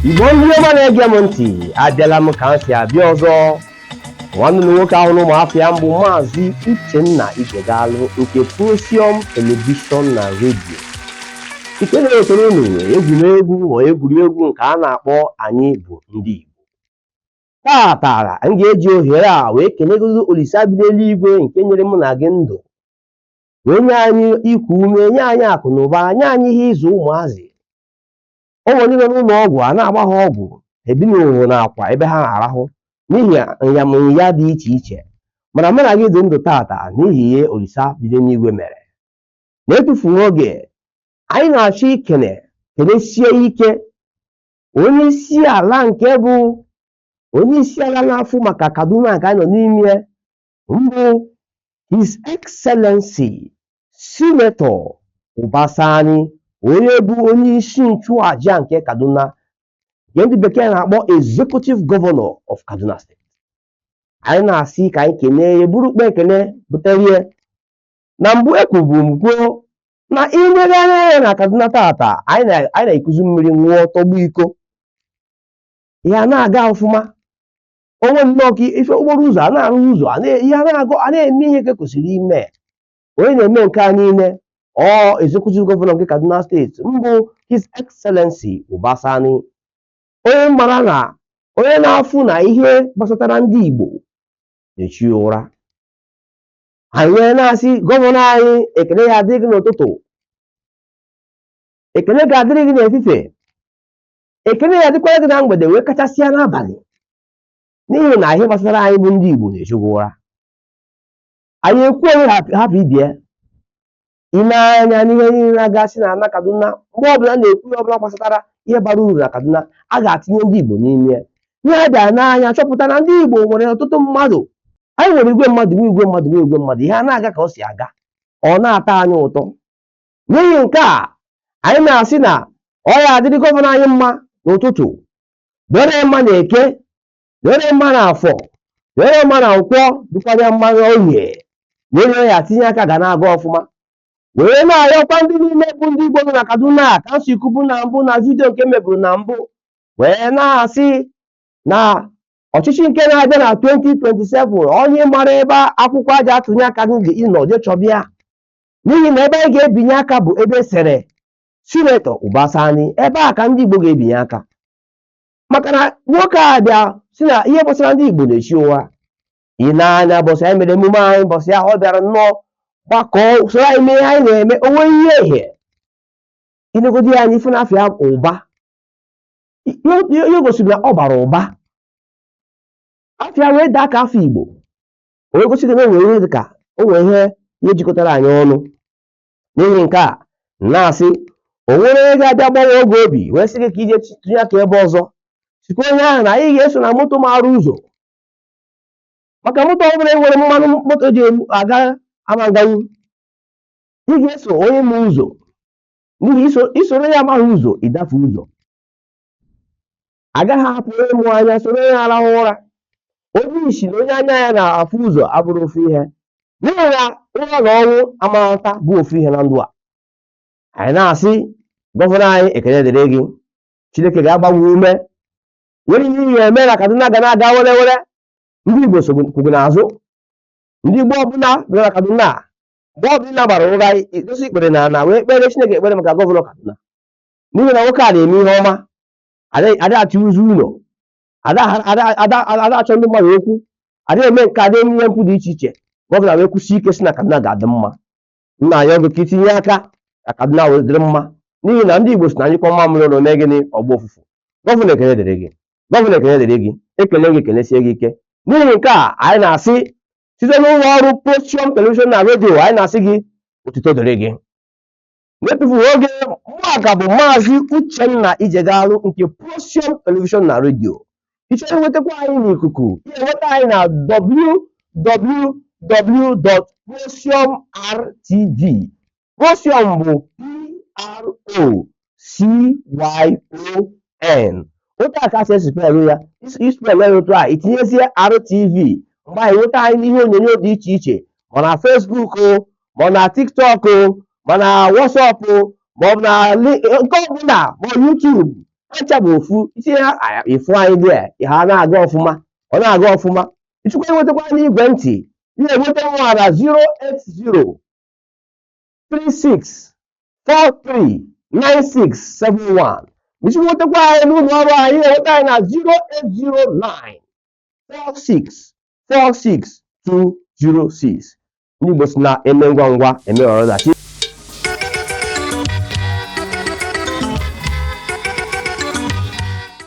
igbo ndị ọma na-ege m ntị abịala m ka m si abịa ọzọ nwanne m nwoke ahụ n'ụmụafọ ya mbụ maazị uchenna ijegalụ nke prosium telivishọn na redio nke na-ewetara unu egwuregwu ma egwuregwu nke a na-akpọ anyị bụ ndị igbo Taata, m ga-eji ohere a wee kenegodu Olisa bi n'enuigwe nke nyere mụ na gị ndụ, wee nye anyị iku ume, nye anyị akụ na ụba, nye anyị ihe ịzụ ụmụazị. O nwere ndị nọ n'ụlọ ọgwụ a na-agba ha ọgwụ, ha ebinighị n'akwa ebe ha na-arahụ n'ihi nyamụnya dị iche iche. Mana mụ na gị dị ndụ taata n'ihi ihe Olisa bi n'enuigwe mere. N'etufughị oge, anyị na-achọ ikene, kenesie ike onye isi ala nke bụ onye isi ala na-afụ maka Kaduna nke anyị nọ n'ime ya mbụ His Excellency Senator Uba Sani onye bụ onye isi nchụaja nke Kaduna nke ndị bekee na-akpọ Executive Governor of Kaduna State anyị na-asị ka anyị kenee ya buru ukpa ekene butere ya Na mbụ ekwubu m kwuo na i legharịa anya na Kaduna tata anyị na-ekuzi mmiri ṅụọ tọgbọ iko ya na-aga ọfụma onwe nnọọ ka ife okporo ụzọ a na-arụ ụzọ a na-eme ihe ka kwesịrị ime onye na-eme nke a niile ọ executive gọvanọ nke Kaduna steeti mbụ His Excellency Uba Sani onye m mara na onye na-afụ na ihe gbasatara ndị Igbo na-echu ya ụra anyị wee na-asị gọvanọ anyị ekene ya-adịrị gị n'ụtụtụ ekene ga-adịrị gị n'efifie ekene ya-adịkwara gị na mgbede wee kachasịa n'abanị n'ihi na ihe gbasara anyị bụ ndị Igbo na-echu gị ụra anyị ekwuo hapụ ibe ya i nee anya n'ihe niile na-agasị n'ana Kaduna mgbe ọbụla a na-ekwu ihe ọbụla gbasatara ihe bara uru na Kaduna a ga-atinye ndị Igbo n'ime ya ihe a bịara nee anya chọpụta na ndị Igbo nwere ọtụtụ mmadụ anyị nwere igwe mmadụ ihe a na-aga ka ọ si aga ọ na-atọ anyị ụtọ n'ihi nke a anyị na-asị na ọ ya-adịrị gọvanọ anyị mma n'ụtụtụ dịrị ya mma na eke dịrị ya mma n'afọ dịrị ya mma na nkwọ dịkwara ya mma n'orie were ya tinye aka ga na-aga ọfụma were na-ayọkwa ndị niile bụ ndị Igbo nọ na Kaduna ka m si kwubu na mbụ na vidio nke m meburu na mbụ wee na-asị na ọchịchị nke na-abịa na 2027 onye mara ebe akwụkwọ e ji atụnye aka gị nọ je chọba ya n'ihi na ebe anyị ga-ebinye aka bụ ebe e sere Senator Uba Sani ebe a ka ndị Igbo ga-ebinye aka maka na nwoke a bịa si na ihe gbasara ndị Igbo na-echi ụwa ị na-anya ụbọsị anyị mere emume anyị ụbọsị ahụ ọ bịara nnọọ gbakọọ soro anyị mee ihe anyị na-eme o nwee ihe ehe inegodi ya anya ifu na afa ya Uba ihe gosiri na ọ bara ụba afa ya wee daa ka afa Igbo o wee gosi gị na o nwere ihe dị ka o nwere ihe ihe jikọtara anyị ọnụ n'ihi nke a na-asị o nwere onye ga-abịa gbanwoo gị obi wee sị gị ka ije tụnye aka ebe ọzọ sikwa onye ahụ na anyị ga-eso na moto maara ụzọ maka moto ọ bụla enwerọ mmanụ moto ji aga ama aganwu ị ga-eso onye ma ụzọ n'ihi isoro onye amaghị ụzọ ịdafe ụzọ agaghị apụ onye mụ anya soro onye rahụ ụra onye isi na onye anya ya na-afụ ụzọ abụrọ ofu ihe n'ihi na ụra na ọnwụ amarata bụ ofu ihe na ndụ a anyị na-asị gọvanọ anyị ekele dịrị gị chineke ga-agba gị ume nwere ihe ihe eme na kaduna ga na-aga were were ndị igbo kwụ gị n'azụ ndị igbo ọbụla bi na kaduna mgbe ọbụla ị ga-ara ụra idosi ikpere n'ana wee kpeere chineke ekpere maka gọvanọ kaduna n'ihi na nwoke a na-eme ihe ọma ada achọ ụzọ ụlọ ada achọ ndị mmadụ okwu ada eme nke ada eme ihe mpụ dị iche iche gọvanọ wee kwụsie ike si na Kaduna ga-adị mma a na-ayọ gị ka itinye aka ka Kaduna wee dịrị mma n'ihi na ndị Igbo si na a nyụkọọ mamịrị ọnụ o mee gịnị ọ gbaa ụfụfụ gọvanọ ekele dịrị gị gọvanọ ekele dịrị gị ekele gị ekelesie gị ike n'ihi nke a anyị na-asị site n'ụlọ ọrụ Procyon Television na redio anyị na-asị gị otuto dịrị gị N'etufughị oge, mụ a ka bụ Maazị Uchenna Ijegalụ nke Procyon Television na Radio. Ị chọrọ inwetakwa anyị n'ikuku, ị ga-enweta anyị na www.procyonrtv. Procyon bụ P-R-O-C-Y-O-N. Otu a ka a si espelụ ya, ispelụ ya otu a, itinyezie RTV, mgbe ahụ ị nweta anyị n'ihe onyonyo dị iche iche, ma na Facebook o, ma ọ na tiktok ma na whatsapp ma ọ bụ na li- nke ọbụla ma ọ youtube ha ncha bụ ofu isi ha a- ịfụ anyị dị a, ha na-aga ọfụma ọ na-aga ọfụma ịchọkwa inwetakwa n'igwe ntị ị na-enweta mụa na 080 36 43 9671 ịchọkwa inwetakwa anyị n'ụlọ ọrụ anyị ị na-enweta anyị na 0809 46 46 206 ndị Igbo si na eme ngwa ngwa emeghara ọdachi